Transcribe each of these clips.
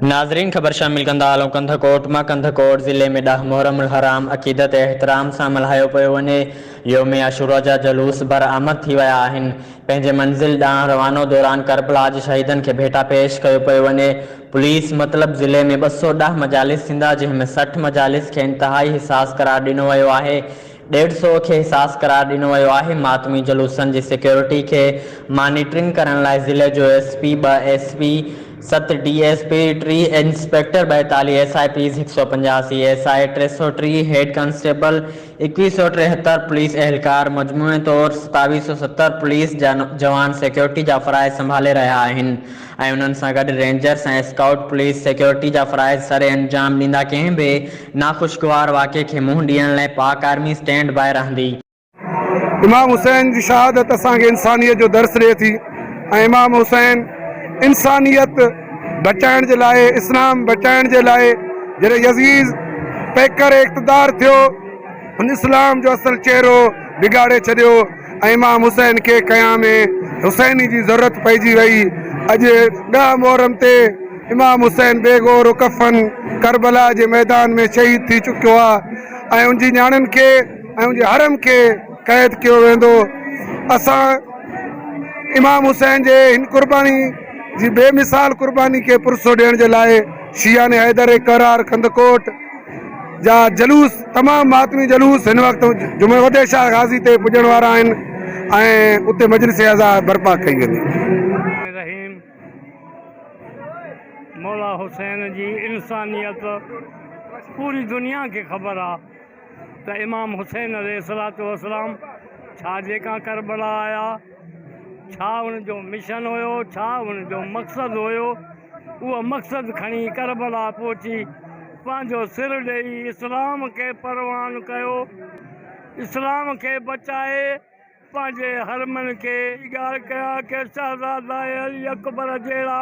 ناظرين خبر شامل ڪندا هلون ڪنڌ ڪوٽ مان ڪنڌ ڪوٽ ضلعي ۾ ڏهه محرم الحرام عقيدت ۽ احترام سان ملهايو پيو وڃي يوم عاشورا جا جلوس بر آمد ٿي ويا آهن پنهنجي منزل ڏانهن روانو دوران ڪربلا جي شهيدن کي ڀيٽا پيش ڪيو پيو وڃي پوليس مطلب ضلعي ۾ ٻه سؤ ڏهه مجالس ٿيندا جنهن ۾ سٺ مجالس کي انتهائي حساس قرار ڏنو ويو آهي ڏيڍ سؤ کي حساس قرار ڏنو ويو آهي، ماتمي جلوسن جي سيڪيورٽي کي مانيٽرنگ ڪرڻ لاء ضلعي جو ايس پي، ٻه ايس پي، ست ڊي ايس پي، ٽي انسپيڪٽر، ٻائيتاليهه ايس آء پيز، هڪ سؤ پنجاسي ايس آء، ٽي سؤ ٽيهه هيڊ ڪانسٽيبل، ايڪويهه سؤ ٽيهتر پوليس اهلڪار مجموعي طور ستاويهه سؤ ستر پوليس جا جوان سيڪيورٽي جا فرائض سنڀالي رهيا آهن. ۽ انهن سان گڏ رينجرز ۽ اسڪائوٽ پوليس سيڪيورٽي جا فرائض سر انجام ڏيندا ڪنهن به ناخوشگوار واقعي کي منهن ڏيڻ لئه پاڪ آرمي اسٽينڊ باء رهندي. امام حسين جي شهادت اسان کي انسانيت جو درس ڏئي ٿي ۽ امام حسين انسانيت بچائڻ جي لاء اسلام بچائڻ جي لاء جڏهن يزيد پيڪر اقتدار ٿيو هن اسلام جو اصل چهرو بگاڙي ڇڏيو ۽ امام حسين کي قيام حسيني جي ضرورت پئجي وئي. اڄ ڏهه محرم تي امام حسين بي گور و ڪفن ڪربلا جي ميدان ۾ شهيد ٿي چڪيو آ ۽ ان جي نياڻين کي ۽ ان جي حرم کي قيد ڪيو ويندو. اسان امام حسين جي هن قرباني جي بي مثال قرباني کي پرسو ڏيڻ جي لاء شيعان حيدر قرار ڪنڌڪوٽ، جا جلوس تمام ماتمي جلوس هن وقت جمعي وتي شاهه غازي تي پڄڻ وارا آهن ۽ اتي مجلس عزا برپا ڪئي ويندي. رحيم مولا حسين جي انسانيت پوري دنيا کي خبر آ ته امام حسين عليه الصلوة والسلام ڇا جيڪا ڪربلا آيا ڇا ان جو مشن هيو ڇا ان جو مقصد هيو. اهو مقصد کڻي ڪربلا پهچي پنهنجو سر ڏيئي اسلام کي پروان ڪيو. اسلام کي بچائي پنهنجي حرمن کي اجاڙ ڪيا ڪي شهزادا علي اڪبر جهڙا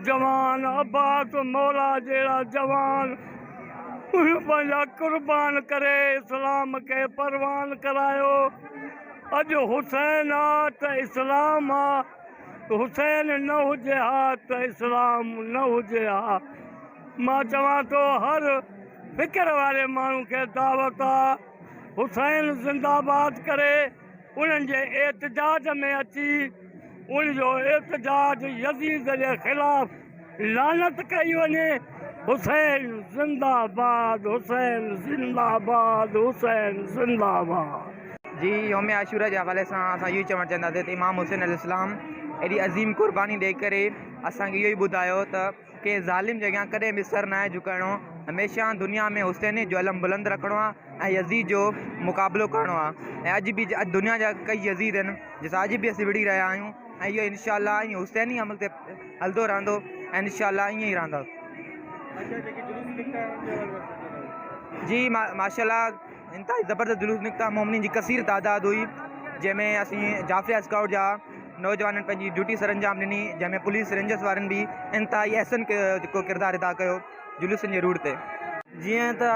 جوان، عباس مولا جهڙا جوان اهي پنهنجا قربان ڪري اسلام کي پروان ڪرايو. اڄ حسين آ ته اسلام آ. حسين نه هجي ها ته اسلام نه هجي ها مان چوان ٿو هر فڪر واري ماڻهو کي دعوت آ حسين زنده باد ڪري انهن جي احتجاج ۾ اچي ان جو احتجاج يزيد جي خلاف لعنت ڪئي وڃي حسين زنده آباد حسين زنده آباد حسين زنده آباد. جي يوم عاشوراء جي حوالي سان اسان اهو ئي چوڻ چاهينداسين ته امام حسين عليه السلام ايڏي عظيم قرباني ڏئي ڪري اسان کي اهو ئي ٻڌايو ته ڪنهن ظالم جي اڳيان ڪڏهن به سر ناهي جهڪائڻو هميشه دنيا ۾ حسين جو علم بلند رکڻو آهي ۽ يزيد جو مقابلو ڪرڻو آهي ۽ اڄ به اڄ دنيا جا ڪئي يزيد آهن جن سان اڄ به اسين وڙهي رهيا آهيون ۽ اهو انشاء الله ائين حسيني عمل تي هلندو رهندو ۽ انشاء الله ائين ئي رهندو. اچا جيڪي جلوس نڪتا انهن جي حوالي سان ڪجهه ٻڌايو. جي ماشاء الله انتهائي زبردست جلوس نڪتا مومنين جي ڪثير تعداد هئي جنهن ۾ اسين جعفريه اسڪائوٽ جا نوجوانن پنهنجي ڊيوٽي سرانجام ڏني جنهن ۾ پوليس رينجرس وارن به انتهائي احسن ڪيو جيڪو ڪردار ادا ڪيو. جلوسن جي روٽ تي. جيئن ته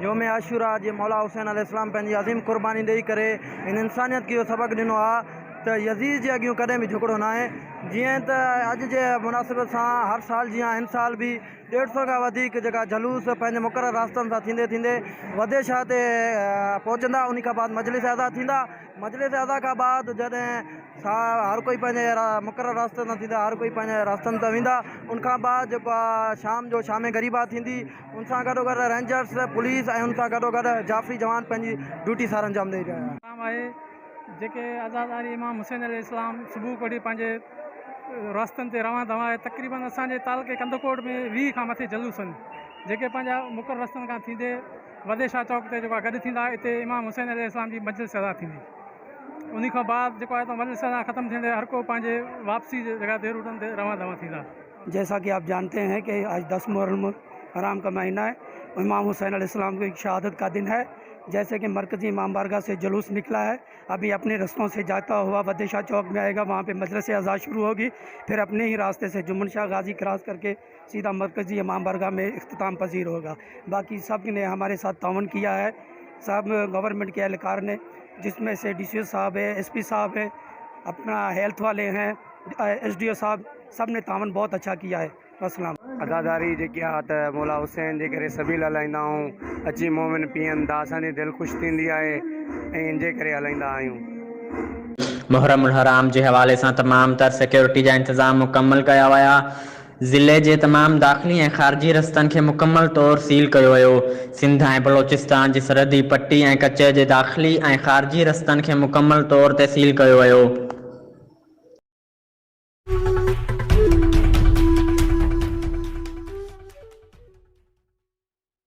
يوم عاشوراء جي مولا حسين عليه السلام پنهنجي عظيم قرباني ڏئي ڪري هن انسانيت کي اهو سبق ڏنو آ ته يزيد جي اڳيون ڪڏهن به جهڪڙو ناهي جيئن ته اڄ جي مناسبت سان هر سال جيان هن سال به ڏيڍ سئو کان وڌيڪ جيڪا جلوس پنهنجي مقرر راستن سان ٿيندي ٿيندي وڌي شاهه تي پهچندا انهي کان بعد مجلس ادا ٿيندا. مجلس ادا کان بعد جڏهن هر ڪوئي پنهنجي مقرر راستي تان ٿيندا هر ڪوئي پنهنجي راستن تان ويندا ان کان بعد جيڪو آهي شام جو شامي غريبا ٿيندي ان سان گڏو گڏ رينجرس پوليس ۽ ان سان گڏو گڏ جعفري جوان پنهنجي ڊيوٽي سار انجام ڏئي رهيا آهن. آهي جيڪي عزاداري امام حسين عليه السلام صبح ڪوٺي پنهنجي راستن تي روان ڌوان آهي تقريبن اسان جي تعلقي ڪنڌڪوٽ ۾ ويهه کان مٿي جلوس آهن جيڪي پنهنجا مقرر رستن کان ٿيندي وڏي شاهه چوڪ تي جيڪو آهي گڏ ٿيندا اتي امام حسين عليه السلام جي مجلس عزا ٿيندي انهي کان بعد جيڪو آهي اتان مجلس عزا ختم ٿيندي هر ڪو پنهنجي واپسي جي جڳهه تي روٽن تي روان دوان ٿيندا. جيسا ڪي آپ جانتي هين ڪي آج دس محرم حرام ڪا مهينا هي امام حسين عليه السلام ڪي شهادت ڪا دن هي جيسي ڪي مرڪزي امام بارگاهه سي جلوس نڪلا هي ابهي اپني رستون سي جاتا هوا وڏي شاهه چوڪ مي آئي گا وهان پي مجلس عزا شروع هوگي پهر اپني هي راسته سي جمن شاهه غازي ڪراس ڪرڪي سيدا مرڪزي امام بارگاھ ۾ اختتام پذير هوگا باقي سب ني هماري ساٿ تعاون ڪيا هي سب گورنمنٽ ڪي اهلڪار ني جس ۾ سي ڊي سي او صاحب هي ايس پي صاحب هي اپنا هيلٿ والي هي ايس ڊي او صاحب سب ني تعاون بهت اڇا ڪيا هي وسلام. عزاداري جيڪي آ ته مولا حسين جي ڪري سبيل هلائيندا آئون اچي مومن پيئن ته اسان جي دل خوش ٿيندي آهي ۽ ان جي ڪري هلائيندا آهيون. محرم الحرام جي حوالي سان تمام تر سيڪيورٽي جا انتظام مڪمل ڪيا ويا. ضلعي جي تمام داخلي ۽ خارجي رستن کي مڪمل طور سيل ڪيو ويو، سنڌ ۽ بلوچستان جي سرحدي پٽي ۽ ڪچي جي داخلي ۽ خارجي رستن کي مڪمل طور تي سيل ڪيو ويو.